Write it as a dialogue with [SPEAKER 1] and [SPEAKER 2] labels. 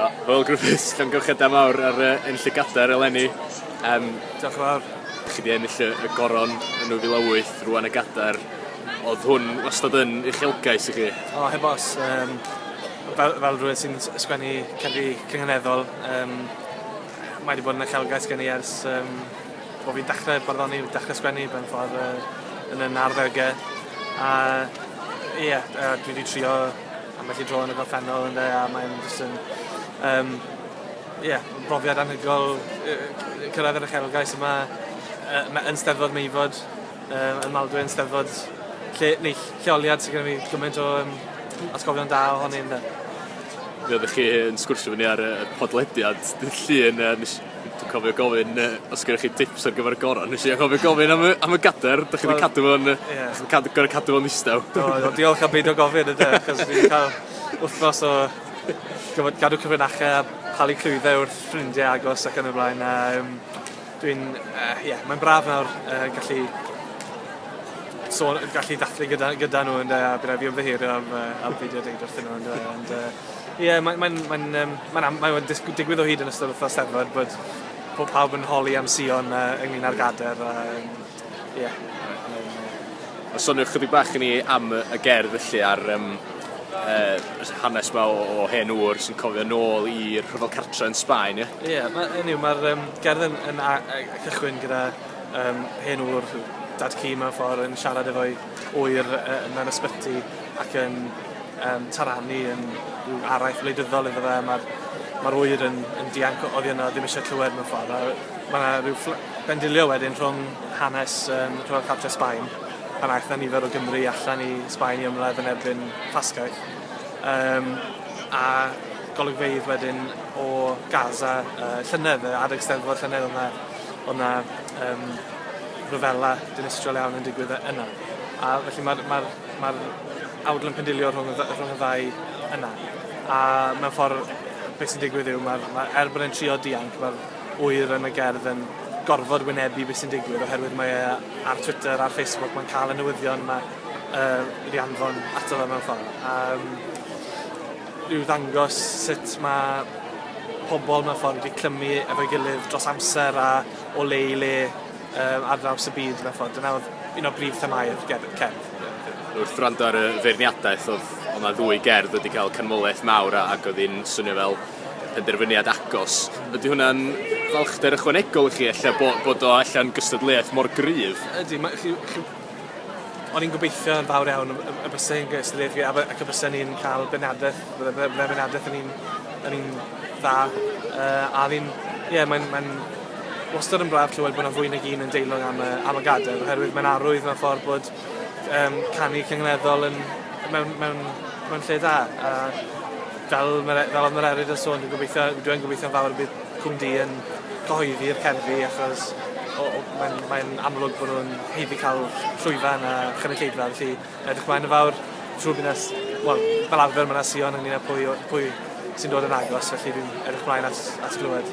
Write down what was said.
[SPEAKER 1] Hwyl Griffiths, llongyfarchiadau mawr ar uh, yn llygadair eleni. Um, Diolch yn fawr. Chi di ennill y goron yn 2008, rwan y gadair. Oedd hwn wastad yn uchelgais i chi? O, heb os. Um, fel, fel rhywun sy'n sgwennu cerddi cynganeddol, um, mae wedi bod yn uchelgais gen i ers um, bod fi'n dechrau barddoni, dechrau sgwennu, ben ffordd uh, yn y narddegau. A ie, yeah, dwi wedi trio Ambell i dro yn y gorffennol ynde a mae'n jyst yn yym ie yn brofiad anhygoel yy yy cyrraedd yr uchelgais yma yy ma' yn Steddfod Meifod yy yn Maldwyn Eisteddfod lle neu ll- lleoliad sy gyda fi gymaint o yym atgofion da ohoni ynde? Mi oeddech chi yn sgwrsio efo ni ar y y podlediad dydd Llun yy nes Dwi'n cofio gofyn yy os gennych chi tips ar gyfer y goron nes i anghofio gofyn am y am y gader dych chi 'di cadw fo'n yy... Ie. ...os yn cad- gor'o' cadw fo'n ddistaw. Do do diolch am beidio gofyn ynde achos fi 'di ca'l wthnos o gyfod gadw cyfrinache a palu clwydde wrth ffrindie agos ac yn y blaen a yym dwi'n yy ie mae'n braf nawr yy gallu so' o' gallu dathlu gyda gyda nw ynde a by' rai' fi ymddiheurio am yy am beidio deud wrthyn nw yndyw e ond yy Ie, mae'n mae mae um, mae am, mae digwydd o hyd yn ystod wythnos Steddfod bod pob pawb yn holi am Sion uh, ynglyn â'r gader. A, um, yeah. A sonio chydig bach i ni am y gerdd felly ar um, uh, hanes yma o, o hen ŵr sy'n cofio nôl i'r rhyfel cartre yn Sbaen, ie? Ie, yeah, mae yw, mae'r um, gerdd yn, yn, yn cychwyn gyda um, hen ŵr dad cu mewn ffordd yn siarad efo'i oer mewn ysbyty ac yn um, taranu yn rhyw araith wleidyddol iddo fe. Mae'r ma oer yn, yn dianc oddi yno, ddim eisiau clywed mewn ffordd. Mae yna rhyw bendilio wedyn rhwng hanes um, Rhyfel Cartre Sbaen, pan aeth na nifer o Gymru allan i Sbaen i ymladd yn erbyn Ffasgaeth. Um, a golygfeidd wedyn o Gaza, uh, llynedd, adeg steddfod llynedd o'na, o'na um, rhyfela dinistriol iawn yn digwydd yna. A felly mae'r ma ma awdl yn pendilio rhwng y, rhwng y ddau yna. A mewn ffordd, beth sy'n digwydd yw, mae'r, ma, er bod e'n trio dianc, mae'r wyr yn y gerdd yn gorfod wynebu beth sy'n digwydd oherwydd mae e ar Twitter, ar Facebook, mae'n cael y newyddion yma uh, wedi anfon ato fe mewn ffordd. A, um, yw ddangos sut mae pobl mewn ffordd wedi clymu efo'i gilydd dros amser a o le i le Ar draws y byd, mewn ffordd. Dyna oedd un o brif themâu'r cerdd. Wrth wrando ar y feirniadaeth, oedd yna ddwy gerdd wedi cael canmoliaeth mawr ac oedd hi'n swnio fel penderfyniad agos. Ydy hwnna'n falchder ychwanegol i chi ella bod, bod o allan gystadleuaeth mor gryf? Ydy, mae, chi, chi, o'n i'n gobeithio yn fawr iawn y bysau yn gystadleuaeth fi ac y bysau ni'n cael benadaeth, bydde benadaeth yn un, yn un dda. Uh, a fi'n, ie, yeah, mae'n, mae'n Wastad yn braf clywed bod 'na fwy nag un yn deilwng am y am y gadair oherwydd mae'n arwydd mewn ffordd bod um, canu cyngneddol yn mewn, mewn, mewn lle da. A fel, fel oedd Mererid yn sôn, dwi'n gobeithio, dwi'n gobeithio'n fawr y bydd Cwm Di yn cyhoeddi'r cerddi achos mae'n mae amlwg bod nhw'n heiddi cael llwyfan a chynulleidfa, felly edrych mlaen yn fawr. Siŵr bydd nes, wel, fel arfer mae yna Sion ynglyn â pwy, pwy sy'n dod yn agos, felly dwi'n edrych mlaen at, at glywed.